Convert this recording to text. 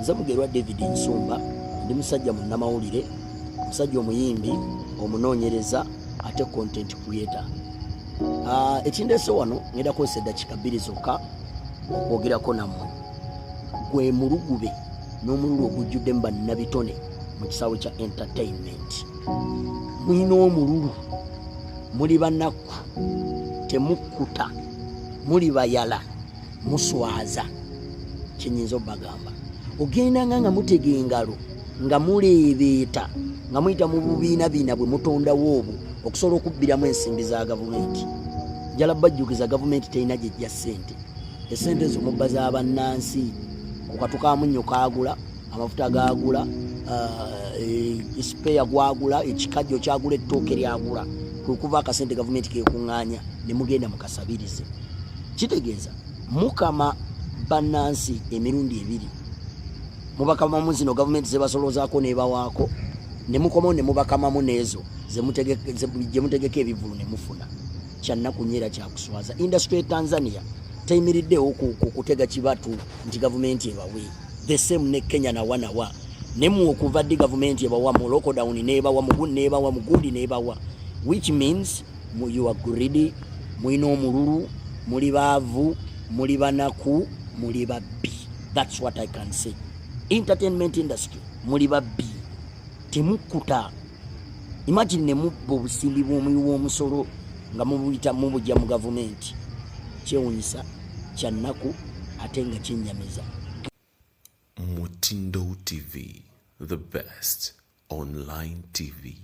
nze mugerwa david nsumba ndi musajja munnamawulire omusajja omuyimbi omunoonyereza ate content creator ah, ekindeese wano ngenda kozesa eddakika bbiri zokka okwogerako nammwe gwe mulugube n'omululu ogujjudde mu bannabitone mu kisaawe kya entertainment mulina omululu muli banakku temukkuta muli bayala muswaza kyenyinza obagamba ogendanga nga mutega engalo nga muleebeeta nga muyita mu bubiina biina bwe mutondawo obwo okusobola okubbiramu ensimbi za gavumenti njala bajjukiza gavumenti terina gyejja ssente esente ezo mubba za bannansi kukatu ka munnyo kaagula amafuta gaagula esipeya eh, e, gwagula ekikajjo kyagula ettooke lyagula kwe kuva akasente gavumenti kekuŋŋaanya ne mugenda mukasabirize kitegeeza mukama bannansi emirundi ebiri mubakamamu zino gavumenti zebasoloozaako nebawaako nemukomawo nemubakamamu neezo gyemutegeka ebivulu nemufuna kyannaku nyo era kyakuswaza industry tanzania teyimiriddewo kutega kibatu nti gavumenti ebawe the same ne kenya nawanawa nemu okuva ddi gavumenti ebawa mu lockdown nebawa mugu nebawa mugundi nebawa which means you are greedy mulina omululu muli baavu muli banaku muli babbi thats what i can say entertainment industry muli babbi temukkuta imagine nemubba obusimbi bwomuyi womusolo nga mubuyita mubujja mu gavumenti kyewunyisa kyannaku ate nga kyenyamiza mutindo tv the best Online TV.